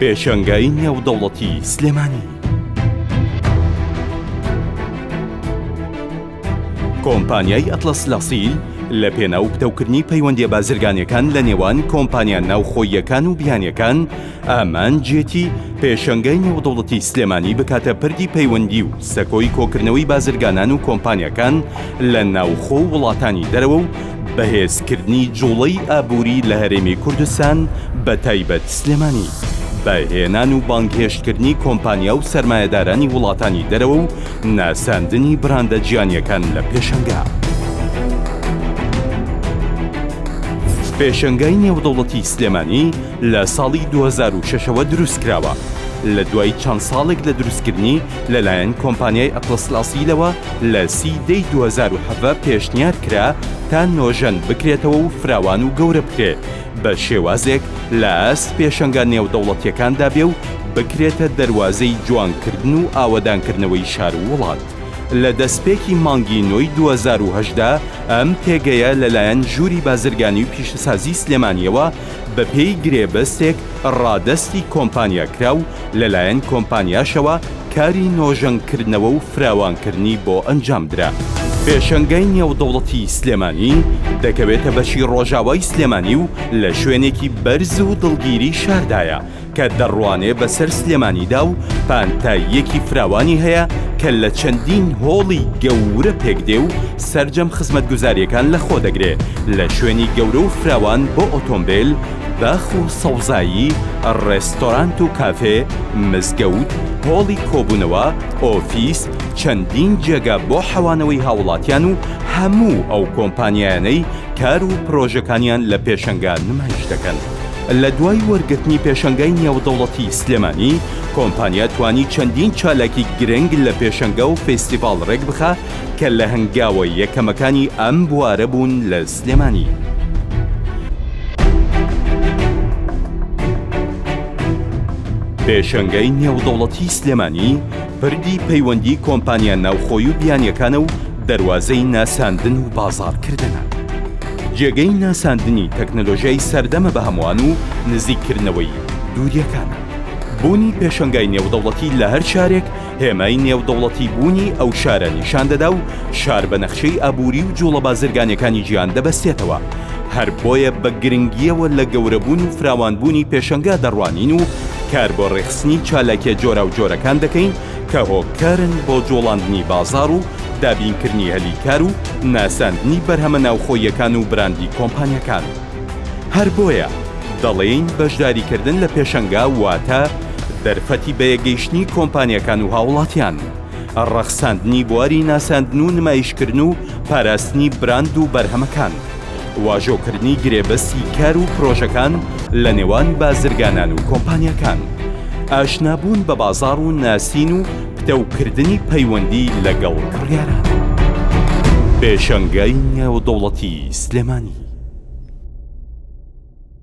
پێشانگای نێودەوڵەتی سلێمانی کۆمپانیای ئەتلەس لاسیل لە پێناو پتەوکردنی پەیوەندیە بازرگانیەکان لە نێوان کۆمپانیا ناوخۆییەکان و بیانیەکان ئامانجیەتی پێشەنگای نێودەوڵەتی سلێمانی بکاتە پردی پەیوەندی و سەکۆی کۆکردنەوەی بازرگانان و کۆمپانیەکان لە ناوخۆ و وڵاتانی دەرەوە و بەهێزکردنی جوڵەی ئابووری لە هەرێمی کوردستان بە تایبەت سلێمانی. بە هێنان و بانگهێشتکردنی کۆمپانیا و سەرمایەدارانی وڵاتانی دەرەوە و ناساندنی براندە جیانیەکان لە پێشەنگا. پێشەنگای نێودەوڵەتی سلێمانی لە ساڵی دوو هەزار و شەش ەوە دروستکراوە، لە دوای چەند ساڵێک لە دروستکردنی لەلایەن کۆمپانیای ئەتڵەس لاسیلەوە لە سی ی دەی دوو هەزار و حەڤە پێشنیار کرا تا نۆژەن بکرێتەوە و فراوان و گەورە بکرێ بە شێوازێک لە ئاست پێشەنگا نێودەوڵەتیەکاندا بێ و بکرێتە دەروازەی جوانکردن و ئاوەدانکردنەوەی شار و وڵات. لە دەستپێکی مانگی نۆی دوو هەزار و هەژدە ئەم پێگەیە لەلایەن ژووری بازرگانی و پیشەسازی سلێمانیەوە بەپێی گرێبەستێک ڕادەستی کۆمپانیا کرا و لەلایەن کۆمپانیاشەوە کاری نۆژەنکردنەوە و فراوانکردنی بۆ ئەنجامدرا. پێشەنگای نێودەوڵەتی سلێمانی دەکەوێتە بەشی ڕۆژاوای سلێمانی و لە شوێنێکی بەرز و دڵگیری شاردایە، کە دەڕوانێ بەسەر سلێمانیدا و پانتاییەکی فراوانی هەیە کە لە چەندین هۆڵی گەورە پێکدێ و سەرجەم خزمەتگوزاریەکان لە خۆ دەگرێ لە شوێنی گەورە و فراوان بۆ ئۆتۆمبێل، باخ و سەوزایی، ڕێستۆرانت و کافێ، مزگەوت، هۆڵی کۆبوونەوە، ئۆفیس، چەندین جێگا بۆ حەوانەوەی هاوڵاتیان و هەموو ئەو کۆمپانیایانەی کار و پرۆژەکانیان لە پێشەنگا نمایش دەکەن. لە دوای وەرگرتنی پێشەنگای نێودەوڵەتی سلێمانی، کۆمپانیا توانی چەندین چالاکی گرنگ لە پێشەنگا و فێستیڤاڵ ڕێکبخا کە لە هەنگاوە یەکەمەکانی ئەم بوارە بوون لە سلێمانی. پێشەنگای نێودەوڵەتی سلێمانی پردی پەیوەندی کۆمپانیا ناوخۆی و بیانیەکانە و دەروازەی ناساندن و بازاڕکردنە. جێگەی ناساندنی تەکنەلۆژیای سەردەمە بە هەمووان و نزیک کردنەوەی دووریەکان. بوونی پێشەنگای نێودەوڵەتی لە هەر شارێک هێمای نێودەوڵەتی بوونی ئەو شارە نیشان دەدا و شار بە نەخشەی ئابووری و جوڵە بازرگانەکانی جیهان دەبەستێتەوە هەر بۆیە بە گرنگیەوە لە گەورەبوون و فراوانبوونی پێشەنگا دەڕوانین و کار بۆ ڕێکخستنی چالاکیە جۆراوجۆرەکان دەکەین کە هۆکارن بۆ جوڵاندنی بازاڕ و دابینکردنی هەلی کار و ناساندنی بەرهەمە ناوخۆییەکان و براندی کۆمپانیاکان. هەر بۆیە دەڵێین بەشداریکردن لە پێشەنگا واتە دەرفەتی بەیەکگەیشتنی کۆمپانیاکان و هاوڵاتیان، ڕەخساندنی بواری ناساندن و نمایشکردن و پاراستنی براند و بەرهەمەکان. واژۆکردنی گرێبەستی کار و پرۆژەکان لە نێوان بازرگانان و کۆمپانیاکان، ئاشنابوون بە بازاڕ و ناسین و پتەوکردنی پەیوەندی لەگەڵ کڕیاران. پێشەنگای نێودەوڵەتیی سلێمانی.